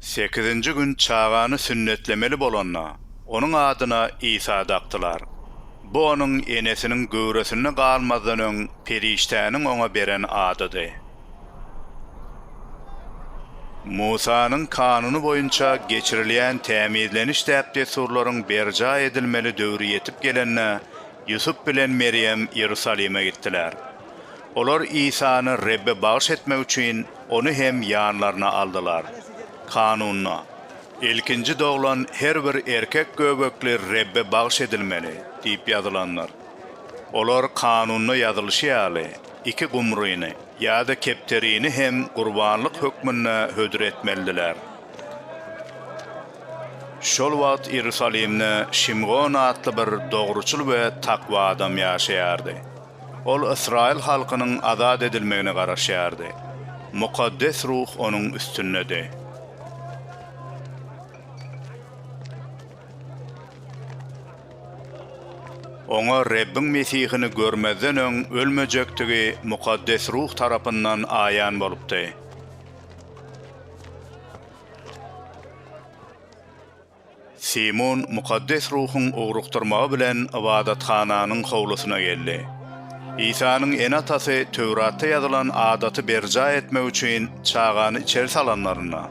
Sekizinji gün çagany sünnetlemeli bolanda, onuň adyna Isa dakdylar. Bu onuň enesiniň göwresinde galmazdan öň perişdäniň oňa beren adydy. Musanyň Kanuny boýunça geçirilýän tämizleniş däp-dessurlaryň berjaý edilmeli döwri ýetip gelende, Ýusup bilen Merýem Iýerusalime gitdiler. Olar Isany Rebbe bagyş etmek üçin Ony hem ýanlaryna aldylar. Kanunda, Ilkinji doglan her bir erkek göbekli Rebbe bagyş edilmeli diýip ýazylandyr. Olar Kanunda ýazylyşy ýaly, iki gumryny ýa-da kepderini hem gurbanlyk hökmünde hödür etmelidiler. Şol wagt Iýerusalimde Şimgon atly bir dogruçyl we takwa adam ýaşaýardy. Ol ysraýyl halkynyň azat edilmegine garaşýardy. Mukaddes ruh onuň üstündedi. Oňa Rebbiň Mesihini görmezden öň ölmejekdigi mukaddes ruh tarapyndan aýan bolupdy. Simun Mukaddes Ruhuň ugrukdyrmagy bilen ybadathananyň howlusyna geldi. Isanyň ene-atasy Töwratda ýazylan adaty berjaý etmek üçin çagany içeri salanlarynda,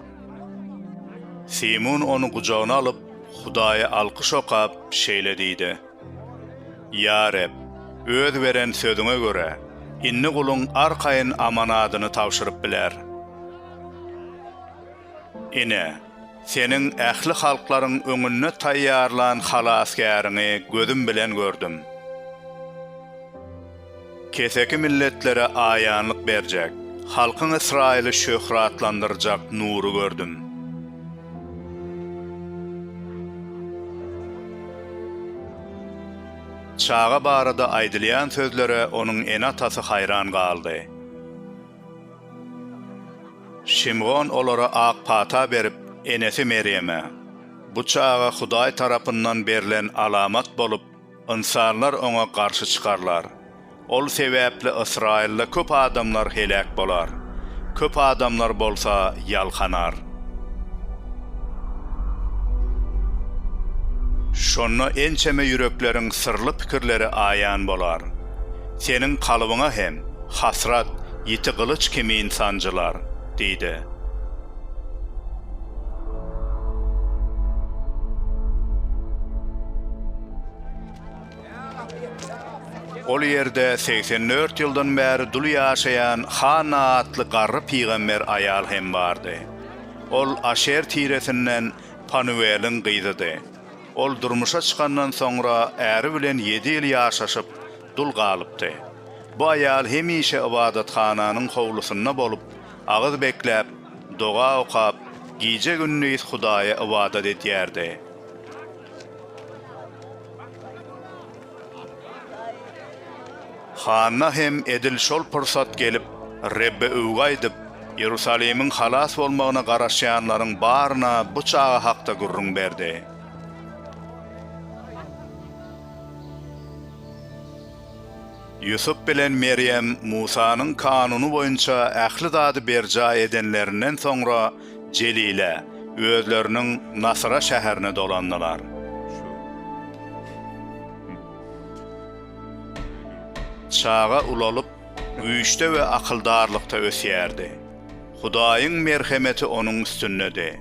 Simun ony gujagyna alyp, Hudaýa alkyş okap, şeýle diýdi, Ýa Reb, Öz beren sözüňe görä, indi guluň arkaýyn amanadyny tabşyryp biler. Ine, Seniň ähli halklaryň öňünde taýýarlan halasgäriňi gözüm bilen gördüm. Keseki milletlere aýanlyk berjek, halkyň Ysraýyly şöhratlandyrjak nury gördüm. Çaga barada aýdylýan sözlere onuň ene-atasy haýran galdy. Şimgon olara ak pata berip, enesi Merýeme, Bu çaga Hudaý tarapyndan berlen alamat bolup, ynsanlar oňa garşy çykarlar. Ol sebäpli Ysraýylda köp adamlar heläk bolar, köp adamlar bolsa ýalkanar. Şonda ençeme ýürekleriň syrly pikirleri aýan bolar. Seniň kalbyňa hem, hasrat, ýiti gylyç kimin sanjylar, diýdi. Ol ýerde segsen dört ýyldan bäri dul ýaşaýan Hanna atly garry pygamber aýal hem bardy. Ol Aşer tiresinden Panuweliň gyzydy. Ol durmuşa çykandan soňra äri bilen ýedi ýyl ýaşaşyp, dul galypdy. Bu aýal hemişe ybadathananyň howlusynda bolup, agyz bekläp, doga okap, gije-gündiz Hudaýa ybadat edýärdi. Hanna hem edil şol pursat gelip, Rebbe öwgi aýdyp, Iýerusalimiň halas bolmagyna garaşýanlaryň baryna bu çaga hakda gürrüň berdi. Ýusup bilen Merýem Musanyň kanuny boýunça ähli zady berjaý edenlerinden soňra, Jelile, özleriniň Nasyra şäherine dolandylar. Çaga ulalyp, güýçde we akyldarlykda ösýärdi. Hudaýyň merhemeti onuň üstündedi.